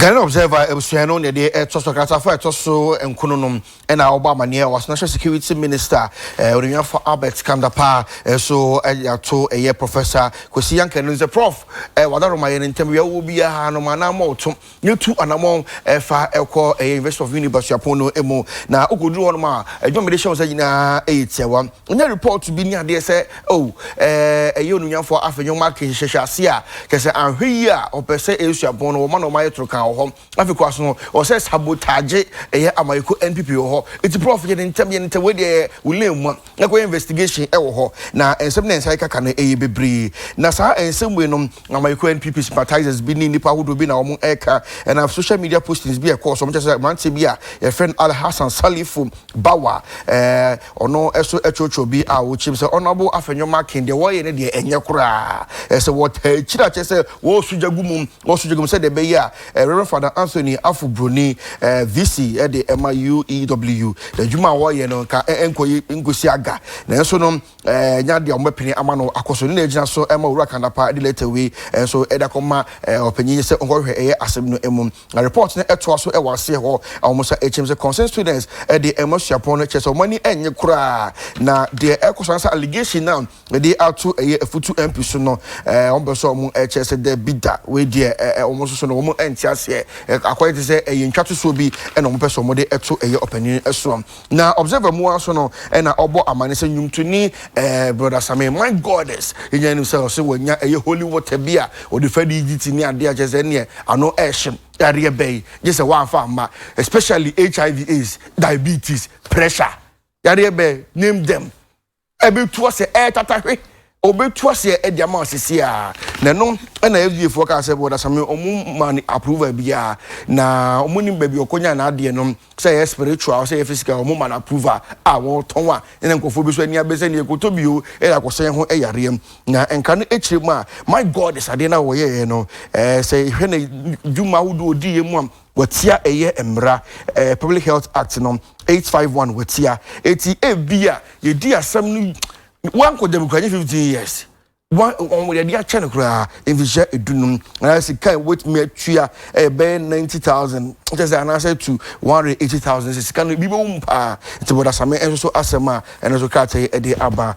Ghanaian Observer abusua no na ɛde ɛtɔ so kratafa a ɛtɔ so nkono no na ɔbɔ amaneɛ wɔ National Security Minister eh, Onuafo Albert Kandapa eh, so ɛde ato ɛyɛ Professor Kwesi Yanka no sɛ Prof eh, wadaroma yɛ no ntam wia wɔ biara no ma anamɔ ɔto ne tu anamɔ ɛfa eh, ɛkɔ ɛyɛ University of Uni Basuapɔn no mu na okɔduru hɔ no ma adwuma mede hyɛ wo nsa nyinaa ɛyɛ tiawa Nya report bi ne adeɛ sɛ oh ɛɛ ɛyɛ onunyamfoɔ afei nyɛ wɔn ake hyehyɛ ase a kyɛ sɛ anhwɛ yie a ɔpɛ sɛ ɛyɛ suapɔn no wɔma na wɔn ayɛ toro kan wɔ hɔ afei kɔ aso no ɔsɛ sabotage ɛyɛ amayɛko NPP wɔ hɔ eti prɔf yɛ ne ntɛm yɛ ne ntɛm wei deɛ yɛ wo lane mua na kɔyɛ investigation ɛwɔ hɔ na nsɛm na nsa ɛkaka no ɛyɛ bebree na saa nsɛm wei no amayɛko NPP sympathizers bi ne nnipa ahodoɔ bi na wɔn ɛka ɛnam social media postings bi a ɛkɔɔ so wɔn kyɛ sɛ mmeranteɛ bi a yɛfrɛ no Alhassan Salifu Bawa ɛɛ. Ɔno so ɛkyerɛkyerɛ bi a ɔkyerɛm sɛ Honourable Afenyo-Markin deɛ wɔyɛ no deɛ ɛnyɛ koraa. Ɛsɛ wɔtaa akyiri a kyerɛ sɛ wɔɔso gya gu mu, wɔɔso gya gu mu sɛdeɛ ɛbɛyɛ a Rev. Father Anthony Afo Broni, VC de ɛma UEW, n'adwuma a wɔɔyɛ no nka ɛnkɔ yi nkɔsi aga. Nanso no ɛnyɛ adeɛ a wɔbɛpene ama no akɔ so. Ne na ɛgyina so ma Owura Kan Dapaah de lɛta wei nso de akɔma ɔpanyin sɛ ɔnkɔhwehwɛ ɛyɛ asɛm no mu. Na report no toa so wɔ aseɛ hɔ a wɔn nsa akyim sɛ concerned students de ɛma suapɔn no kyerɛ sɛ wɔn ani nnye koraa na deɛ ɛkɔ so ansa allegation no a ɛde ato ɛyɛ afutu MP so no wɔn bɛ sɛ wɔn kyerɛ sɛ dabi da wei deɛ wɔn nso so no wɔn nte aseɛ akɔyɛ te sɛ ɛyɛ ntwa tosoɔ bi na wɔn pɛ sɛ wɔn de to ɛyɛ ɔpanin soɔ. Na Observer mu ara nso no, ɛna ɔbɔ amane sɛ nnwomtoni eh, Brɔda Same, my goddess, yɛnya anim sɛ ɔse wanya ɛyɛ holy water bi a ɔde fa di gyiti ne adeɛ a kyerɛ sɛ ɛneɛ ano ɛhye yareɛ bɛn gye sɛ woamfa amma, especially HIV, AIDS, diabetes, pressure, yareɛ bɛn, name them. ɛbɛtu aseɛ ɛretata hwe ɔbɛtu aseɛ ɛde ama asese a na ɛno ɛna FDA foɔ kaa sɛ bɔ dasame ɔmo ma ne approval biara na ɔmo nim baabi ɔkɔnya na adeɛ no sɛ ɛyɛ spiritual sɛ ɛyɛ physical ɔmo ma no approval a wɔtɔn a ɛna nkurɔfoɔ bi so ani abɛ sɛ neɛ ɛkɔtɔ bio ɛyɛ akɔsɛn ho ɛyareɛ na nka no akyire mu a my god sadeɛ no a wɔyɛɛ no ɛɛ sɛ hwɛ na dwuma ahodoɔ ɔdiiɛ mu a Wɔatia ɛyɛ mmara, ɛɛ Public Health Act no, eight five one wɔatia. Eti ebia yɛdi asɛm no wankɔ dɛm kura nye fifteen years. Wɔn wɔn yɛde akyɛ no koraa mfihyɛ edunum. Anaa sika a wɔbɛtumi atua ɛyɛ bɛyɛ ninety thousand kyɛ sɛ anaasɛ to one hundred eighty thousand sɛ sika no ebi bɛwɔ mu paa. Nti Bɔdasame nso so asɛm a ɛno nso krataa yi de aba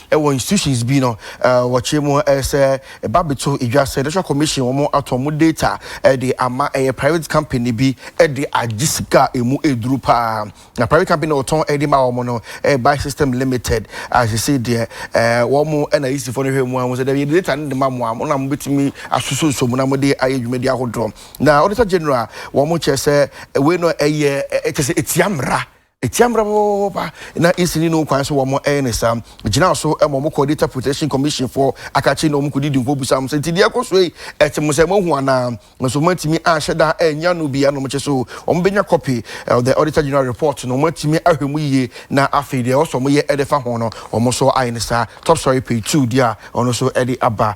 Wɔ institutions bi no wɔkyerɛ mu sɛ ɛba bɛto dwa sɛ Electoral Commission wɔn atɔn mu data de ama ɛyɛ private company bi de agye sika a ɛmu ɛduru paa na private company na ɔtɔn de ma wɔn no ɛyɛ Buy System Limited a sesei deɛ wɔn na EC foɔ no hwɛ mu a wɔn sɛ dɛbi yɛde data no de ma mo a mo na mo bɛtumi asoso nso mu na mo de ayɛ dwumadi ahodoɔ na Auditor General wɔn kyerɛ sɛ wei no ɛyɛ ɛkyɛ sɛ ɛtia mmara Etia mmara papapapa na esi ne no kwan so wɔ mo ɛyɛ ne saa. Gyina so ma ɔmo kɔ Data Protection Commission foɔ akakye na ɔmo kɔ didi nkɔ bisa ɔmo sɛ nti deɛ ɛkɔ so yi ɛte mo sɛ mo ahu anaa nso mo atumi anhyɛ da annya no bi anom kye so ɔmo bɛnya copy of the Auditor General Report no ɔmo atumi ahwɛ mu yie na afei deɛ ɛwɔ sɛ ɔmo yɛ ɛde fa ho no ɔmo nso ayɛ ne saa Top Story Page two deɛ a ɔno nso ɛde aba.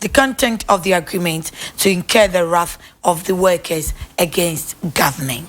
the content of the agreement to incur the wrath of the workers against government.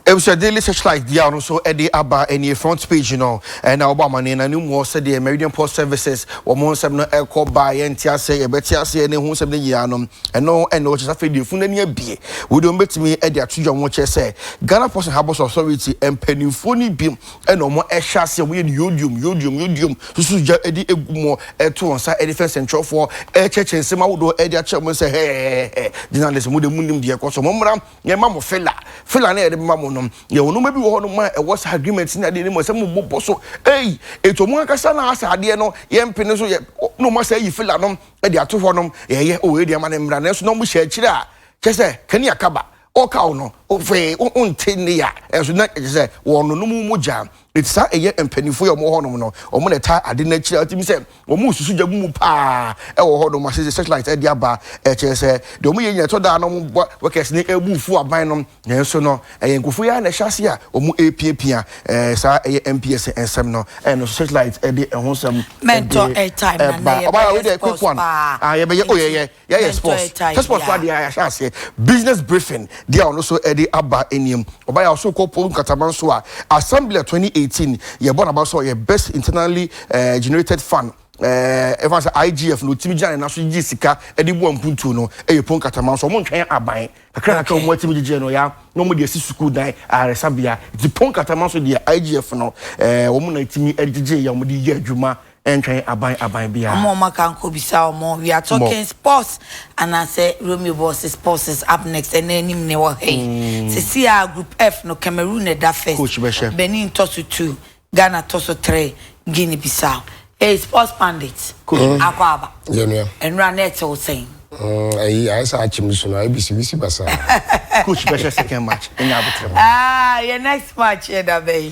Ebusua Daily Searchlight deɛ ɔno nso de aba ɛnie front page no ɛna wɔbɔ amaneɛ na no mu hɔ sɛdeɛ Meridian Port Services wɔn ho nsɛm no ɛkɔ baa yɛn te aseɛ yɛbɛte aseɛ ne ho nsɛm no nyinaa no ɛno ɛna wɔkyɛ sɛ afei deɛ funu ani abie wode wɔn bɛtumi de ato dwa wɔn kyɛ sɛ Ghana Ports and Harbours Authority mpanimfoɔ no bi Ɛna wɔn hyɛ aseɛ wɔyɛ no yodium yodium yodium susu gya de egu mu ɛto wɔn nsa ɛde fɛ nsɛnkyerɛwfoɔ ɛkyɛkyɛ nsɛm ahodoɔ ɛde akyerɛ wɔn sɛ hɛɛɛɛɛ journalist mo deɛ mo nim deɛ ɛkɔ so mo mmra yɛn ma mo fila fila na yɛde bɛma mo no yɛwɔ nneɛma bi wɔ hɔ nom a ɛwɔ saa agreement ne adeɛ ne mu ɛsɛ mo bobɔ so ei eto mo ankasa na asɛ adeɛ no yɛn mpene so yɛ na wɔn asɛ ayi fila nom ɛde ato hɔ nom yɛyɛ o ɛde ama ne mmra nanso na wɔn hyɛ akyire a kyɛ sɛ kani akaba Ɔka wo no, hwee wonte nne a, ɛnso na ɛkyɛ sɛ wɔnonom wo mogya. Enti saa ɛyɛ mpanyinfoɔ yi a wɔwɔ hɔnom no, wɔn na ɛtaa ade no akyiri a wotumi sɛ wɔresusu gya mumu paa ɛwɔ hɔnom a sɛdeɛ satellite ɛde aba ɛkyerɛ sɛ deɛ wɔyɛ nyinaa ɛtɔ da a na wɔn bɔ workers no ɛbu fuo aban no nanso no ɛyɛ nkurɔfoɔ yi ara na ɛhyɛ ase a wɔrepiapia ɛɛ saa ɛyɛ MPS nsɛm no ɛna nso satellite ɛde ɛho nsɛm ɛde ɛba ɔbaa wei deɛ quick one ah yɛbɛyɛ oh yɛyɛ. Yɛayɛ sports hwɛ sports fo adeɛ a yɛahyɛ aseɛ business briefing deɛ a ɔno nso ɛde aba anim ɔba yɛ ɔso kɔ pon nkataman so a assembly 2018 yɛbɔ n'aba sɛ ɔyɛ best internally eh, generated fund eh, ɛfa sɛ IGF no ɔtumi gyina ne nan so gye sika ɛde boa mpuntuo no ɛyɛ pon nkataman so ɔmo ntwɛn aban kakra kakra okay. ɔmo atumi gyegyeɛ no ya na ɔmo de asi sukuu dan ayaresabea nti pon nkataman so deɛ IGF no eh, ɔmo na atumi ɛde gyegyeɛ yɛ ɔmo de yɛ adwuma Ɛntwɛn aban aban biara. Ɔmo a ɔmo aka nkɔ bisa ɔmo we are talking sports anaasɛ Romeo bɔs sports is up next ɛna anim na ɛwɔ hɛyi sesei a group F no Cameroon na ɛda Coach bɛ hyɛ. first Benin tɔ so two Ghana tɔ so three Guinea Bissau ei sports pandit akɔ aba Yɛ nua. ɛnora na ɛtew sɛn. Mm, ayi ayɛ sɛ akyem nsu no ayɛ bisiwisi basaa. Coach bɛhyɛ second match ɛnyɛ aboterɛ mu. Aah yɛ next match ɛda bɛn.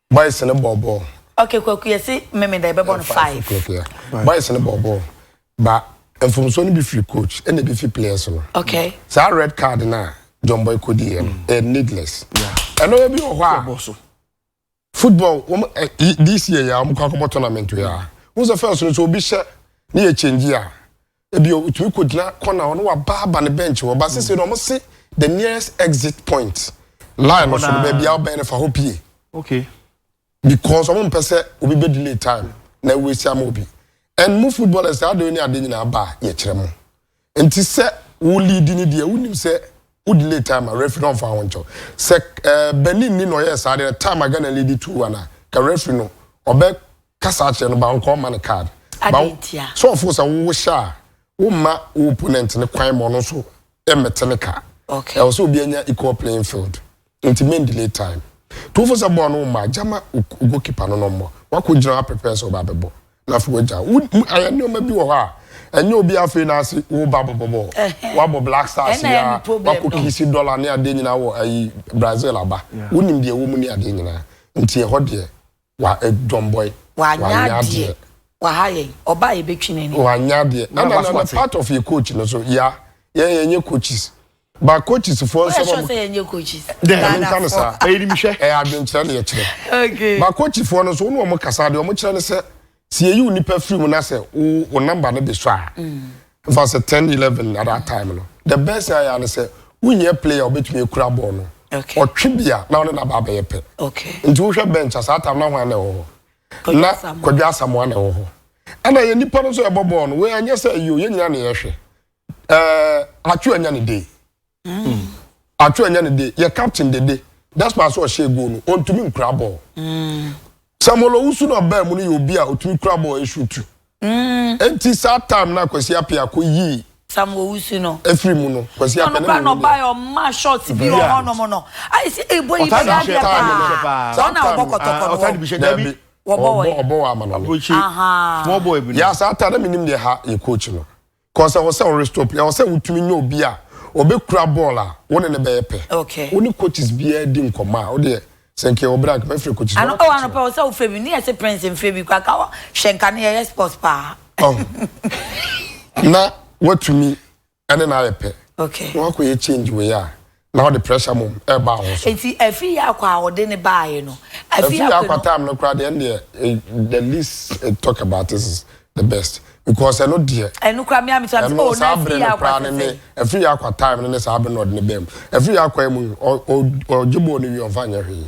Boys ne bɔɔ bɔɔl. Okay, Kwaku yɛse Memeda yɛbɛbɔ no five. Boys ne bɔɔ bɔɔl. Ba mfomsoɔ no bi firi coach ɛna bi fi players no. Okay. Saa red card no a John Boy kɔdi yɛ no mm. ɛyɛ needless. Ɛno yɛ bi wɔ hɔ a. Football wɔn ɛ this year yɛ a wɔn kɔ akɔbɔ tournament yɛ a. Wɔn sɛ first no so obi hyɛ ne yɛ change a. Ebia otumi kogyina corner hɔ na waba aba ne bench hɔ ba sese no wɔn se the nearest exit point line no so no baabi a ɔbɛn no fa hɔ pie. Okay. Because wɔn mpɛ sɛ obi bɛ delay time na ewu esi ama obi. And mo footballers ade ne ade nyinaa ba yɛkyerɛ mo. Nti sɛ wo lead ne deɛ wonim sɛ Wo delay time a referee no ɔnfa ho nkyɛw. Sɛ eh, Benin ni na ɔyɛɛ saa deɛ time a Ghana lead two one a, ka referee no ɔbɛ kasa akyerɛ no ba nka ɔma no card. Ba wo sɛ ɔfo sɛ wo wohyɛ a wo mma wo opponent no kwan ma ɔno nso ɛmmɛte ne ka. Okay. Ɛwɔ sɛ obi anya equal playing field. Nti men delay time. Tuofo sɛ bɔɔl no wo mmaa gya ma goalkeeper no na ɔmmɔ. Wako gyina hɔ a prepare sɛ ɔba abɛbɔ. Na afei wagya. Wo ayɛ nneɛma bi wɔ hɔ a ɛnyɛ obi afei na ase wo ba bɔbɔ bɔɔl. Wabɔ black stars yi ara wako kiss dollar ne adeɛ nyinaa wɔ ayi Brazil aba. Wonim deɛ ɛwɔ mu ne adeɛ nyinaa. Nti ɛhɔ deɛ Wa eh, John Boy. Wa nya deɛ. Wa ha yɛn. Ɔba yɛ bɛ twi n'ani. Wa nya deɛ. Na na na part of yɛ coach no so ya yɛn yɛn nye coaches. Ba coaches foɔ nsɛm. Ɔyɛ sure sɛ yɛn nye coaches. Dɛ ɛmi nka no saa. Ɛyɛ nim hwɛ. Ɛyɛ adwenkyerɛ na yɛ kyerɛ. Okay. Ba coaches foɔ no so wɔn wɔn kasa deɛ wɔn kyerɛ ne sɛ sɛ yɛyi wo nipa firi mu na sɛ wo wo namba no de sɔ a mfa sɛ ten eleven at that time no the best thing ayɛ ne sɛ wonyɛ player obetumi ekura bɔɔl no ɔtwe bi a na ɔne naba abɛyɛ pɛ nti wohwɛ bench a saa time na hwan na ɛwɔ hɔ na kwadwa asamoa na ɛwɔ hɔ ɛna yɛ nipa no nso ɛbɔ bɔɔl no wei anyɛ sɛ yio yɛ nyina na yɛhwɛ ɛɛ atwe anya ne day. Atwe ɛnyɛ ne de, yɛ captain dede despite sɛ ɔhyɛɛ goal no, ɔntumi nkura bɔɔl. Samuel Owusu no a ɔbaa mu no yɛ obi a ɔtumi kura bɔɔl ɛshuutu. Enti saa time no a Kwasi Appiah kɔ yii Sam Owusu no ɛfiri mu no, Kwasi Appiah na menim deɛ. Ɔno ɔmaa shots bi wɔ hɔnom no, ayɛ sɛ ɛbɔ yi bɛyɛ adeɛ paa. Saa na ɔbɔ kɔtɔkɔ no wɔ? Daabi, ɔbɔ wɔ Amanɔne. Yaa saa time na menim deɛ ha yɛ coach no. Kɔ sɛ ɔsɛ ɔre stop yɛ ɔsɛ wotumi nyɛ obi a ɔbɛ kura bɔɔl a wo ne ne bɛyɛ pɛ wo ne coaches biara di nkɔmɔ a wodeɛ sɛ nka yɛwɔ berɛ a nka mɛfrɛ coaches biara Anɔpa anɔpa wɔ sɛ wofrɛ bi ne yɛse prince mfrɛ bi kwa ka wɔ hwɛ nka ne yɛyɛ sports paa oh na watumi ɛne na ayɛ pɛ na wakɔ yɛ change wei a na ɔde pressure mmom ɛreba ho so. Nti afi yɛ akɔ a ɔde ne baaye no. Afi yɛ akɔ time no koraa deɛ ɛn deɛ eh, the least eh, talk about this is the best because ɛno deɛ. Ɛno koraa mi ami to ami oh na afi yɛ akɔ tete. Afi yɛ akɔ time no ne saa abere na ɔde ne bɛn mu. Afi yɛ akɔ emu ɔgye bɔɔl no wie ɔnfa nyɛ hwee.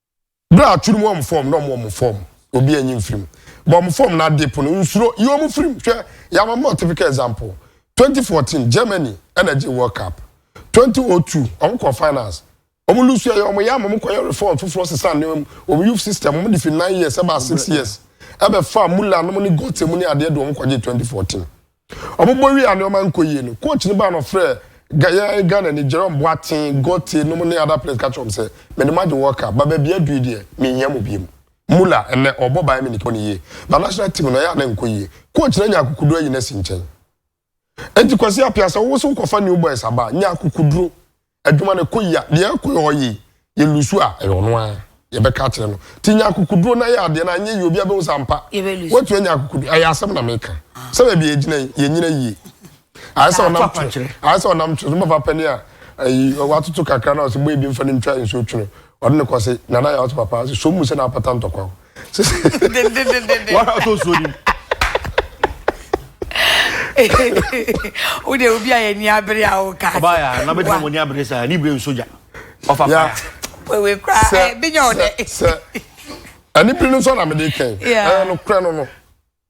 Bere a aturu mu wɔn fam na wɔn wɔn fam, obi anyi mfiri mu. Bɔ wɔn fam na ade pono, nsuro, yi wɔn firi mu. Hwɛ, yɛama mma wo typical example. Twenty fourteen, Germany ɛna ɛgyee World Cup. Twenty o two, wɔn kɔɔ finals. Wɔn lose yɛ wɔn yam, wɔn kɔyɛ reform foforɔ sesaa nneɛma mu. Wɔn youth system, wɔn de firi nine years ɛbaa six years. Ɛbɛfaa Muller nom ne Götze mu ne adeɛ de wɔn kɔgyee twenty fourteen. Wɔbobɔ wie a nneɛma nkɔ yie no, coach no baa na ɔfrɛɛ Ga yɛn Ghanani, Jerome Boateng, Gote nom ne other players ka kyerɛɛ wɔn sɛ, Mede mo agye World Cup, but baabi a adu yi deɛ, menhia mo bio. Muller, ɛnnɛ, ɔrebɔ Bayern Munich bɔ no yie, but national team no, ɛyɛ a na ɛnkɔ yie. Coach no anya akokoduro ayi no asi nkyɛn. Enti Kwasi Appiah, sɛ wo nso wokɔfa new boys aba a, nya akokoduro. adwuma no kɔ yia, deɛ ɛkɔ hɔ yie, yɛ lusu a, ɛyɛ ɔno ara. Yɛbɛka akyerɛ no. Ti nya akokoduro na yɛ adeɛ no anyɛ yie, obiara bɛhu sɛ ampa. Woatumi anya akokoduro. Ɛyɛ asɛm na meka. Sɛ baabi a yɛgyina yi, yɛnyina yie. Ayɛ sɛ ɔnam twe. Ayɛ sɛ ɔnam twe. Soma papa ni a, ayi, watoto kakra na ɔsɛ bɔ ebi mfa no ntwa nsuo twe no. Ɔde no kɔ se, Nana Yaw se papa, ɔse, Som mu sɛ na apata ntɔkwaw. wara to nsuo nim wode obi a yɛni abere a woka ɔbaayɛ na bɛtena mɔni abere saa ne bere nso gya ɔfa faya wewe koraa eh, bɛnya wo dɛ sɛ ɛne bere no nso na mede kɛn ɛyɛ no korɛ no no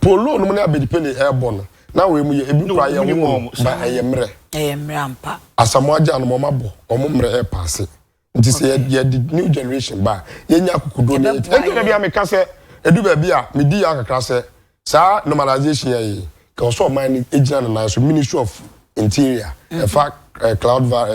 Polo nom ne Abedi Pele ɛɛbɔ no na wei mo yɛ ebi koraa yɛ wo no ba ɛyɛ mmerɛ. Ɛyɛ mmerɛ ampa. Asamoah agya nom ɔmo abɔ ɔmo mmerɛ ɛɛpaase nti sɛ yɛ de new generation ba a yɛ nya akokoduo na yɛ ɛnti na bia me ka sɛ ɛdu baabi a me di yaw kakra sɛ saa normalization yɛ yi kɛ wɔ sɛ ɔman no gyina ne nan so ministry of Interior, ɛfa cloud va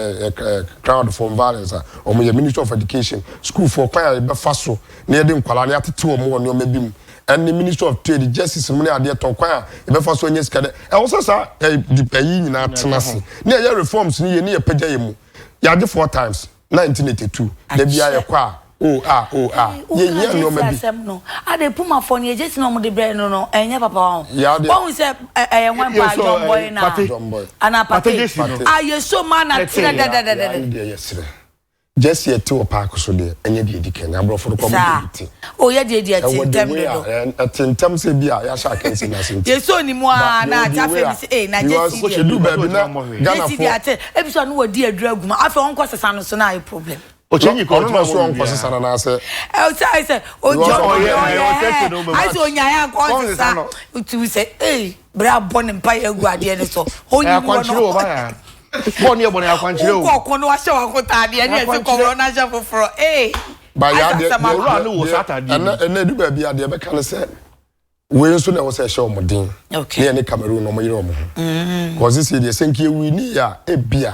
crowd form violence a wɔn yɛ ministry of education sukuufoɔ kwan a yɛbɛfa so na yɛde nkwadaa no yɛatete wɔn wɔ nneɛma bi mu ɛne ministry of trade justice mu ne adeɛ tɔ kwan a yɛbɛfa so anya sika dɛ ɛwɔ sɛ saa ɛyi nyinaa tena ase ne ɛyɛ reforms ne yɛ ne yɛpagya yɛ mu yɛagye four times na nti ne tetu da biara yɛkɔ a o a o a yɛhia nneɛma bi. asɛm no ade pumafo no yɛgye si na wɔde brɛ no no ɛnyɛ papa ho wɔn sɛ ɛyɛ wɔn pa jɔnbɔy na ana pate a yɛsɔ mu ana tena dadadadada. jɛsi ɛte wɔ paaki so deɛ ɛnyɛ deɛ di kɛn aborɔfo no kɔ mo de bi te. Oh yɛ deɛ di a ti ntɛm dodo. Ɛwɔ the way a ntɛm sɛ bi a yɛahyɛ akansi n'ase nti. Yɛ sɛ onimu a na ate afei mi sɛ ee na Jesse deɛ. Edu baabi na Ghana fo. Jesse deɛ ate ebi so a na wɔdi aduro agu mu afei ɔnkɔ sesa no so na ayɛ problem. Ɔkyɛnyi kɔ ɔno na so ɔnkɔ sesa no n'ase. Ɛwɔ sɛ ayɛ sɛ ɔdi ɔmo ɔyɛ ayɛ sɛ ɔnyae ankɔ ɔnsesa tu sɛ ee. bere a bɔ ne mpa yɛ agu adeɛ no so ɔnyi wɔ no akwankyerɛ wɔ ba ya bɔ ne yɛ bɔ ne akwankyerɛ o wokɔ ɔko no wahyɛ wakotaadeɛ ɛne ɛsɛ kɔworɔ no ahyɛ foforɔ ee ba ya deɛ owura no wɔ sataadeɛ ɛnɛ ɛnɛ edu baabi a deɛ bɛka ne sɛ wei nso na ɛwɔ sɛ ɛhyɛ wɔn den ne yɛ ne Cameroon na wɔn yere wɔn ho kɔsi si deɛ sɛnki ewi ne yɛ a ebia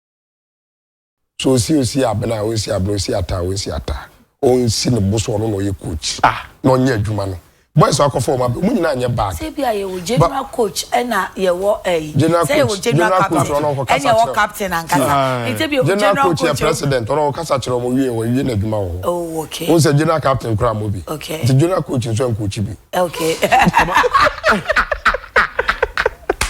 So osi osi abena a onsi abena osi ata a onsi ata onsi ne bo so ɔno na ɔyɛ coach a ah. na ɔnyɛ adwuma no boys so akɔfɔ wɔn abɛ wɔn nyinaa nyɛ bad. sɛ bi a yɛ wɔ general coach ɛna yɛ wɔ ɛyi sɛ yɛ wɔ general captain ɛna yɛ wɔ captain ankasa nti bi yɛ wɔ general coach yɛ president ɔno ɔwɔ kasa kyerɛ wɔn wie wɔn wie n'adwuma wɔ hɔ oh okay wɔn sɛ general captain kura mo bi okay nti general coach nso ɛn coach bi okay.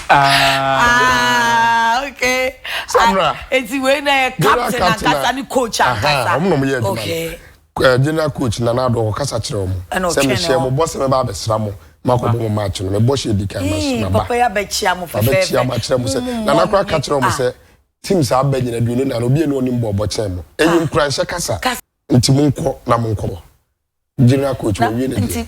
Ah, okay. Samra. Ah, eti wei na yɛ captain ankasa ne coach ankasa. Ɔmo na ɔmo yɛ adwuma. Okay. Eh, general coach na n'ado ɔkɔ kasa kyerɛ ɔmo. Ɛna ɔtwɛn no. Sɛ mehyɛ mo bɔ sɛ mɛba abɛsra mo. Mako bɔ mo match no mɛbɔ hyɛ di kan ma so maba. Papa yɛ abɛkyia mo fɛfɛɛfɛ. Abɛkyia mo akyerɛ mo sɛ mm, nana kora ka kyerɛ ɔmo sɛ team saa abɛ nyina duoni na obi enu ɔnim bɔ ɔbɔ kyɛn mo. Ɛyɛ ah. nkuranhyɛ kasa. Nti mo nkɔ na mo nkɔ. General coach wɔ wie ne deɛ.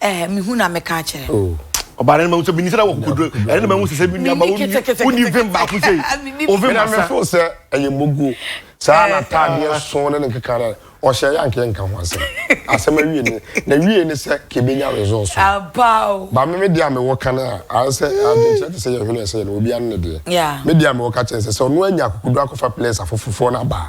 Eh, me hu na me ka akyerɛ. Oh. Ɔbaa no mahu sɛ menim sɛ wɔ kokoduro ɛno na mahu sɛ sɛ menuaba wonni vim baako sei ovim asa mefo sɛ ɛyɛ moguo saa na ataadeɛ so ne ne nkeka no ɔhyɛ yɛ ankeɛ nka ho asɛm asɛm awie ne na wie ne sɛ ka ɛbɛnya resɔɔ so ba me medeɛ a mewɔ ka no a ayɛ sɛ adwenkyerɛ te sɛ yɛ hwene ɛsɛ yɛ no obi ano ne deɛ medeɛ a mewɔ ka kyɛn sɛ sɛ ɔno anya kokoduro akɔfa players afoforfoɔ no abaa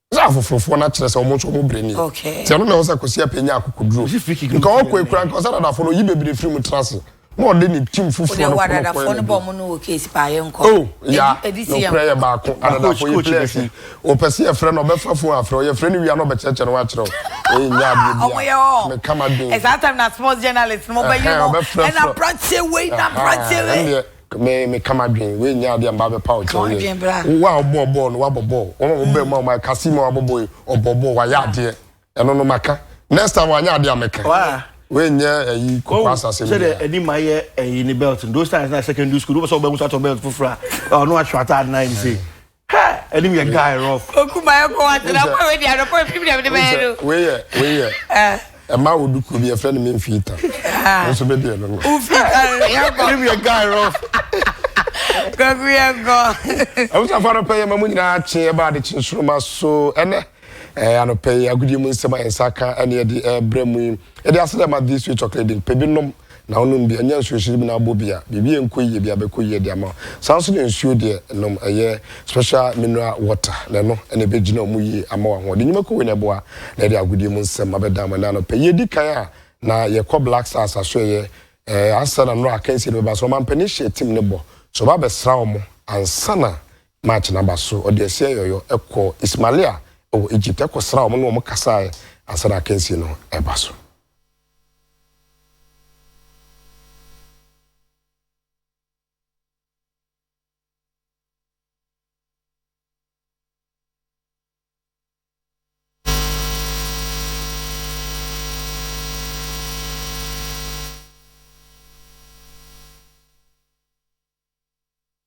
Sɛ afoforofoɔ no akyerɛ sɛ wɔn nso wɔn berɛ nie. Nti ɛno na ɛwɔ sɛ Kwasi Appiah nya akokoduro. Nka ɔkɔe koraa nka ɔsɛ dadafoɔ no ɔyi bebree firi mu tena ase na ɔde ne team foforɔ no kɔ no kɔyɛ ne deɛ. Oh ya nokorɛ yɛ baako adadafoɔ yi players yi ɔpɛ sɛ yɛfrɛ no ɔbɛfa phone afrɛ wo yɛfrɛ no wie a na ɔbɛkyerɛkyerɛ ne ho akyerɛ wo ei nyɛ adeɛ biara me ka m'adwen ɛhɛn ɔbɛfrɛfrɛ ɛndeɛ Me, meka m'adwene. Wei nyɛ adeɛ a mmaa bɛpa wo kyɛw yɛ. Wo a wobɔɔ bɔɔl no, woabɔ bɔɔl. Wɔn a wɔbaa mu a wɔayɛ Cassie mu a wabɔ bɔɔl yi, ɔbɔɔ bɔɔl, wayɛ adeɛ. Ɛno no, maka. Next time wanyɛ adeɛ a, mɛka. Wei nyɛ ayi kokoraase asɛm biara. Woahu sɛdeɛ Anima ayɛ ayi ne belt no? Those times na secondary school, wopɛ sɛ wobaa mu sɛ woatɔ belt foforɔ a, ɔno ahwɛ ataade no ayɛ ne sei. Hey, anim yɛ guy rough. Oku ma yɛ kɔ wa tena kɔ wei di anɔpɔ efi mi na mi de bɛyɛ no. Wei yɛ wei yɛ. Eh. Ɛma wo du kuro bi yɛfrɛ no memfiita ah. nso bɛdeɛ no no wofiitaɛnim yɛ guy rof kɔku yɛ gɔ abusuafoɔ anɔpɛ yɛ ma mu nyinaa kye ɛba ade kye nsoroma so ɛnɛ anɔpɛ yi agodie mu nsɛm a yɛnsa ka ɛne ɛde ɛbrɛ mu yi Yɛde ase dɛ ma Thee Sweet Chocolate din, pɛ bi nom na wonom bi, ɛnyɛ nsuo hyehye bi na abɔ bi a biribi ɛnkɔ yie bia bɛkɔ yie de ama wo. Saa nso na nsuo deɛ nom ɛyɛ special mineral water na ɛno na ɛbɛgyina wo mu yie ama wo ahoɔden nnwuma kɔ wei na ɛboa na ɛde agodie mu nsɛm abɛdan mo nan pɛ. Yɛdi kan a na yɛkɔ Black Stars asoɛeɛ ɛɛ ansa na nnora akansie no bɛba so ɔmampanin hyɛɛ team no bɔ sɛ ɔba abɛsra wɔn ansa na March no aba so, ɔde asia yɔyɔ kɔɔ Ismailia wɔ Egypt kɔsraa wɔn ne wɔn kasaeɛ ansa na akansie no reba so.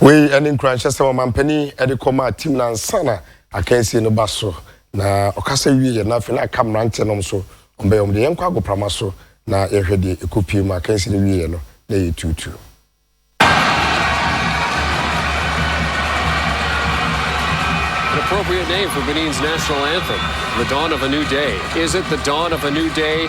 Wei ne nkuranhyɛ sɛ ɔmampanin de kɔ maa tim no ansa na akansie no ba so. Na ɔkasa wie yɛ na afei na aka mmeranteɛ nom so ɔmbɛyɛ ɔm deɛ yɛnkɔ agoprama so na yɛhwɛ deɛ ɛkɔ pie mu akansie no wie yɛ no na yɛ tuutu. An appropriate name for Benin's national anthem, The Dawn of a New Day. Is it the dawn of a new day?